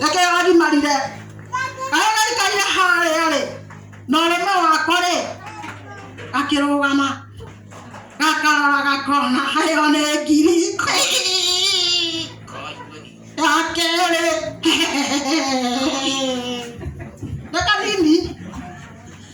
reke arimarire arĩa maikarire harĩa rĩ na ũrũme wakwa rĩ akĩrũgama gakarora gakona hayo nĩ ngiri ya kerĩ reka nini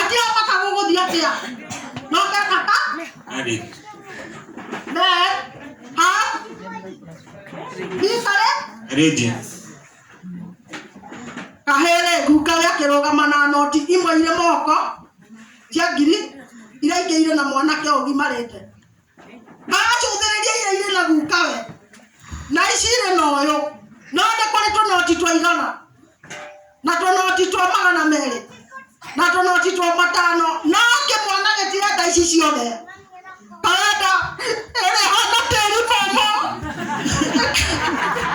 Atia paka gugu dia atia. No ke kata? Ari. Ne. Ha. Bisare. Rigi. Kahere guka ya kiroga mana noti imwe ile moko. Cia ngiri. Ira ingĩ ire na mwanake ũgimarĩte. Agacũthĩrĩria iria irĩ na guka we, na ici irĩ na ũyũ, no nĩ kũrĩ tũnoti twa igana, na tũnoti twa magana merĩ, na tũnoti twa matano, no kĩmwana gĩtirenda ici ciothe. Karenda ĩrĩa ĩhana tĩri mũmũ,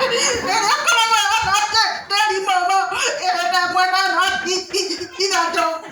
ĩrĩa ĩkoragwo ĩhana tĩri mũmũ, ĩrĩ na ĩmwe na noti ithatũ.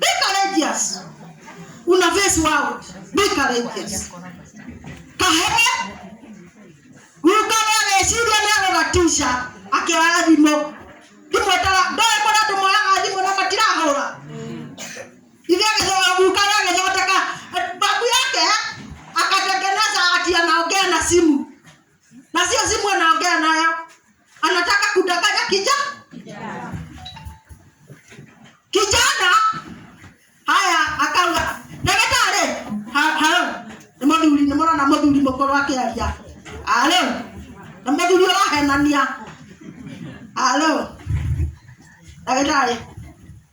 Be courageous. Una face world. Be courageous. Kahere. Ukare meciria nĩ arora tisha akĩoya thimũ. Imwe tara ndoe kũrĩa andũ moyaga thimũ na matirahũra. Ithe agĩthoma ukare agĩthondeka babu yake akatengeneza ati anaongea na simu. na sio simu anaongea nayo anataka kudanganya kijana kijana haya akauga ndagĩtarĩ ha- halo nĩ mũthuri nĩ mũrona mũthuri mũkũrũ akĩaria alo nĩ mũthuri ũrahenania alo ndagĩtarĩ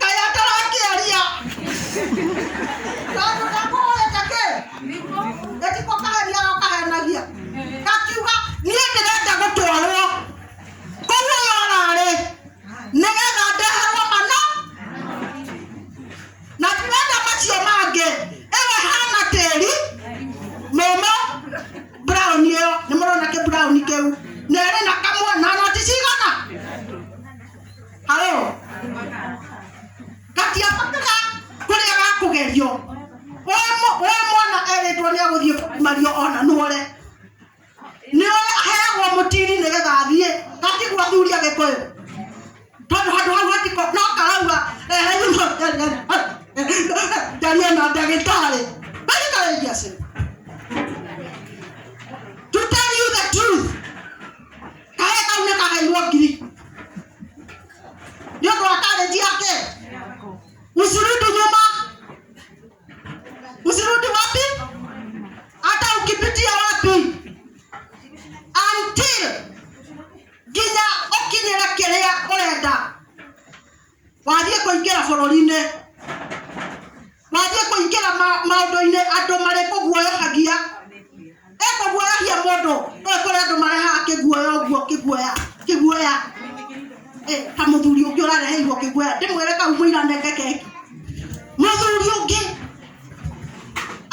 kaya tarakĩaria tondũ ndakũhũrĩte kĩ gĩtiko kaheria gakahenagia gakiuga niĩ ndĩrenda gũtwarwo kũu ũyũ ararĩ nĩgetha ndeherwo mana na ndĩrenda macio mangĩ ĩwe hana tĩri mũmũ brown ĩyo nĩ mũrona kĩ brown kĩu na ĩrĩ na kamwana na ti cigana halo gatiabatĩra kũrĩa gakũgerio we mũ- we mwana erĩtwo nĩ agũthiĩ mario ona nũre nĩwe aheagwo mũtiri nĩgetha athiĩ gatigua thuri agĩkũyũ tondũ handũ hau hatiko no karauga ndaria na ndagĩtarĩ ndagĩtarĩ ngiacĩ karĩa kau nĩ kagairwo ngiri nĩ ũndũ wa karĩnji yake usirudi nyuma usirudi wapi hata ukipitia wapi until nginya ũkinyĩre kĩrĩa ũrenda wathiĩ kũingĩra bũrũri-inĩ wathiĩ kũingĩra ma- maũndũ-inĩ andũ marĩ kũguoyohagia ĩ kũguoyohia mũndũ ĩ kũrĩ andũ marehaga kĩguoya ũguo kĩguoya kĩguoya ĩ ta mũthuri ũngĩ ũrareheirwo kĩguoya ndĩmwĩre kau mũira nenge keki mũthuri ũngĩ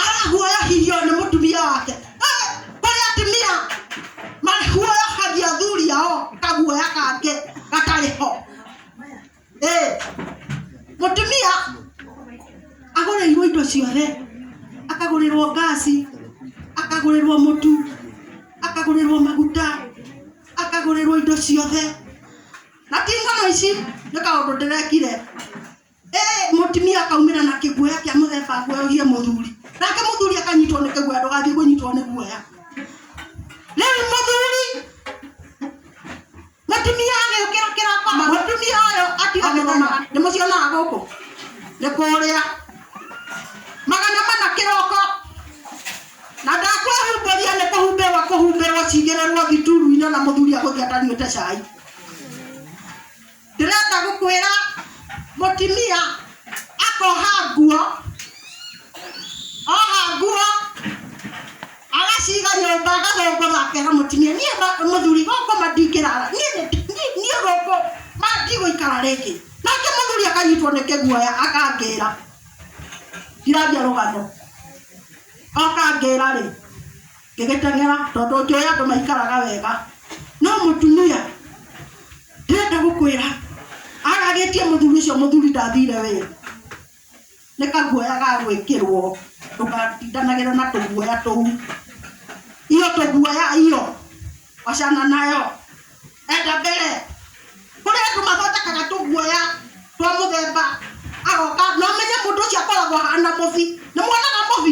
araguoyohirio nĩ mũtumia wake Ĩ, kũrĩ atumia maguoyohagia athuri ao kaguoya kangĩ gatarĩ ho Eh, mũtumia agũrĩirwo indo ciothe akagũrĩrwo ngasi akagũrĩrwo mũtu akagũrĩrwo maguta akagũrĩrwo indo ciothe na ti ng'ano ici nĩ kaũndũ ndĩrekire Eh, mũtumia akaumĩra na kĩguoya kĩa mũthemba nguoyogie mũthuri nake mũthuri akanyitwo nĩ kĩguoya ndũgathiĩ kũnyitwo nĩ guoya rĩu mũthuri Mũtumia agĩũkĩra kĩroko, mũtumia ũyũ atiga kũrũmaga. Nĩ mũcionaga gũkũ? Nĩ kũrĩa. Magana mana kĩroko. Na ndakwĩhumbĩria nĩ kũhumbĩrwo kũhumbĩrwo cigĩrĩrwo thituru-inĩ na mũthuri agũthiĩ atanyuĩte cai. Ndĩrenda gũkwĩra mũtumia akoha nguo, oha nguo agaciga nyũmba agathongoza akera mũtumia niĩ ma- mũthuri gũkũ mandingĩrara niĩ nĩ- niĩ- niĩ gũkũ mandigũikara rĩngĩ nake mũthuri akanyitwo nĩ kĩguoya akangĩra ndiraria rũgano akangĩra rĩ ngĩgĩteng'era tondũ njũĩ andũ maikaraga wega no mũtumia ndĩrenda gũkwĩra aragĩtie mũthuri ũcio mũthuri ndathire wĩra Nĩ kaguoya ga gwĩkĩrwo ndũgatindanagĩre na tũguoya tũu. Hiyo tũguoya hiyo wachana nayo. Enda mbere. Kũrĩ andũ mathondekaga tũguoya twa mũthemba agoka na ũmenye mũndũ ũcio akoragwo ahana mũbi. Nĩ muonaga mũbi?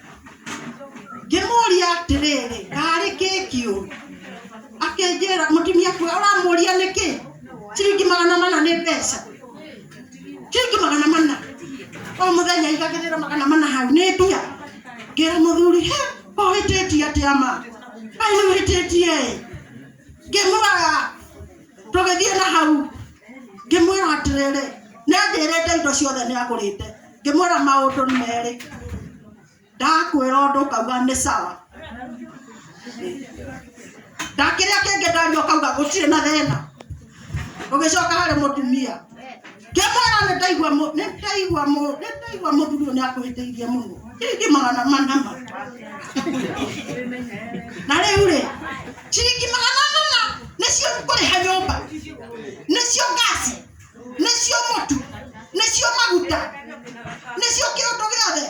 ngĩmũria atĩrĩrĩ karĩ keki ũũ akĩnjĩra mũtumia kuoya ũramũria nĩkĩ ciringi magana mana nĩ mbeca ciringi magana mana o mũthenya igagĩrĩra magana mana hau nĩ mbia ngĩra mũthuri he ũhĩtĩtie atĩa ma ai nĩ ũhĩtĩtie ĩ ngĩmwĩra tũgĩthiĩ na hau ngĩmwĩra atĩrĩrĩ nĩanjĩrĩte indo ciothe nĩagũrĩte ngĩmwĩra maũndũ nĩ merĩ ndakwĩra ũndũ ũkauga nĩ sawa ndakĩrĩa kĩngĩ ndario kauga gũtirĩ na thĩna ũgĩcoka harĩ mũtumia ngĩmwĩra nĩ ndaigua mũ- nĩ ndaigua mũ- nĩ ndaigua mũthuri ũyũ nĩ akũhĩtĩirie mũno ciringi magana manama na rĩu rĩ ciringi magana manama nĩcio kũrĩha nyũmba nĩcio ngasi nĩcio mũtu nĩcio maguta nĩcio kĩũndũ gĩothe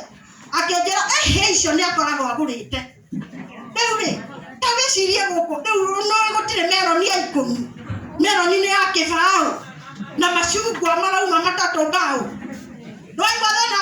akĩnjĩra ehe icio nĩ akoragwo agũrĩte rĩu rĩ ta wĩcirie gũkũ rĩu nũĩ gũtirĩ meroni ya ikũmi meroni nĩ ya kĩbaũ na macungwa marauma matatũ mbaũ ndwaigua thĩna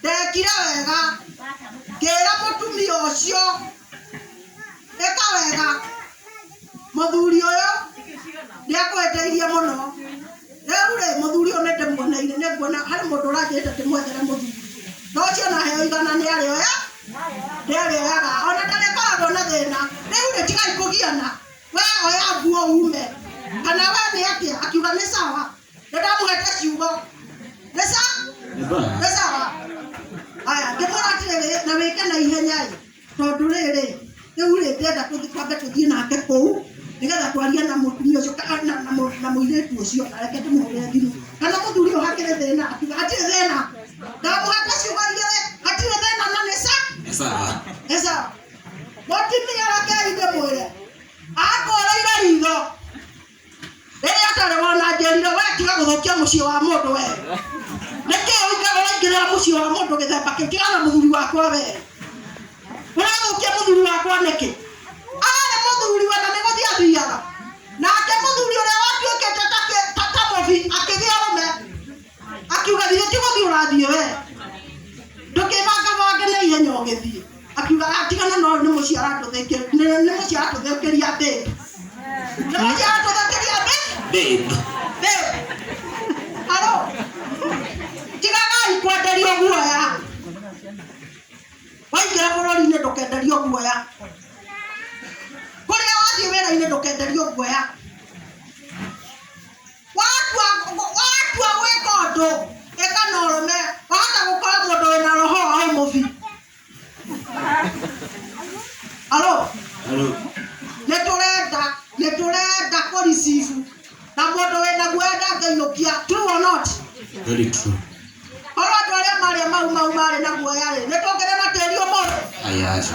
ndekire wega ngĩra mũtumia ũcio ĩka wega mũthuri ũyũ nĩakwendeithie mũno rĩu rĩ mũthuri ũyũ nĩndĩmuoneire nĩnguona harĩ mũndũ ũranjĩte ndĩmwethere mũthuri na ũcio naheo igana nĩarĩoya nĩarĩoyaga ona ndarĩkoragwo na thĩna rĩu rĩ tigai kũgiana we oya nguo ume kana we nĩ atĩa akiuga nĩ sawa ndamũgeta kiugo nĩ sa Nĩ bana. nĩ sawa aya ndĩmwĩra atĩrĩrĩ na wĩke na ihenya ĩ tondũ rĩrĩ rĩu rĩ ndĩrenda kũthi- twambe tũthiĩ nake kũu nĩgetha twarie na mũtumia ũcio ka- na- na mũ- na mũirĩtu ũcio na reke ndĩmũhũrĩre thimũ kana mũthuri ũyũ hakĩrĩ thĩna akiuga hatirĩ thĩna ndamũgeta ciugo igĩrĩ hatirĩ thĩna na nĩ sa Nĩ sawa. nĩ sawa mũtumia reke ithe mwĩre akũrĩire ritho rĩrĩa atarĩ wona njerire we tiga gũthũkia mũciĩ wa mũndũ we nĩkĩ ũikara ũraingĩrĩra mũciĩ wa mũndũ gĩthemba kĩu tiga na mũthuri wakwa we ũrathũkia mũthuri wakwa nĩkĩ arĩ mũthuri we na nĩ gũthiĩ athiaga nake mũthuri ũrĩa watuĩkĩte ta kĩ- ta ta mũbi akĩgĩa rũme akiuga thiĩ ti gũthiĩ ũrathiĩ we ndũkĩbangabange na ihenya ũgĩthiĩ akiuga atigana no nĩ mũciĩ aratũthĩkĩria nĩ mũciĩ aratũthĩkĩria babe nĩ mũciĩ aratũthĩkĩria babe Babe. babe haro tigagai kwenderio guoya waingĩra bũrũri-inĩ ndũkenderio guoya kũrĩa wathiĩ wĩra-inĩ ndũkenderio guoya watua wa- watua gwĩka ũndũ ĩka na ũrũme wahota gũkora mũndũ wĩna roho wa ũmũbi alo nĩ tũrenda nĩ tũrenda kũricibu na mũndũ wĩna guoya ndangĩinũkia true or not Very true. korwo andũ arĩa marĩa mau mau marĩ na guoya rĩ nĩ tũngĩrĩ na tĩri ũmũthĩ Ayaza.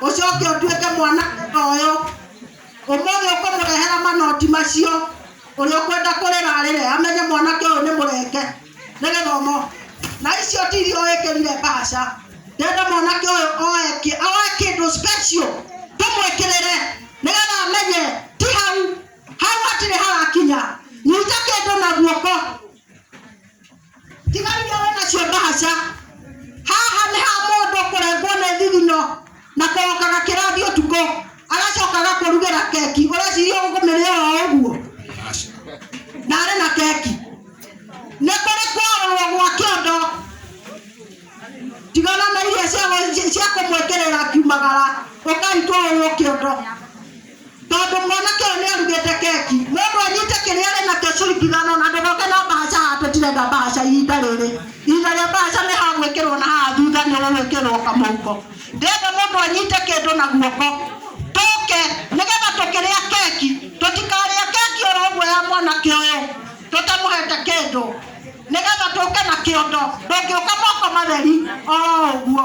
ucoke utuike mwana uyu umuthi ukumurehera manoti macio uria ukwenda kurira arire amenye mwanake uyu ni murenge ni githomo na icio ti iria wikirire mbaca ndenda mwanake uyu oe ki- oe kindu special tumwikirire nigetha amenye ti hau hau hatiri harakinya nyita kindu na guoko tiga iria wĩ nacio ndahaca haha nĩ ha mũndũ kũrengwo nĩ thithino na korokaga kĩrathi ũtukũ agacoka agakũrugĩra keki ũreciria ũkũmĩrĩa o ũguo na arĩ na keki nĩ kũrĩ kwarũrwo gwa kĩondo tigana na iria cia- cia kũmwĩkĩrĩra akiumagara ũkaitwarwo kĩondo tondũ mwanake ũyũ nĩ arugĩte keki mũndũ anyite kĩrĩa arĩ nakĩo ciringi ithano na ndũgoke na mbahaca haha tũtirenda mbahaca ihinda rĩrĩ ihinda rĩa mbahaca nĩ ha gwĩkĩrwo na haha thutha nĩ ũgwĩkĩrwo kamũhuko ndĩenda mũndũ anyite kĩndũ na guoko tũke nĩgetha tũkĩrĩa keki tũtikarĩa keki oro ũguo ya mwanake ũyũ tũtamũhete kĩndũ nĩgetha tũke na kĩondo ndũngĩũka moko matheri oro ũguo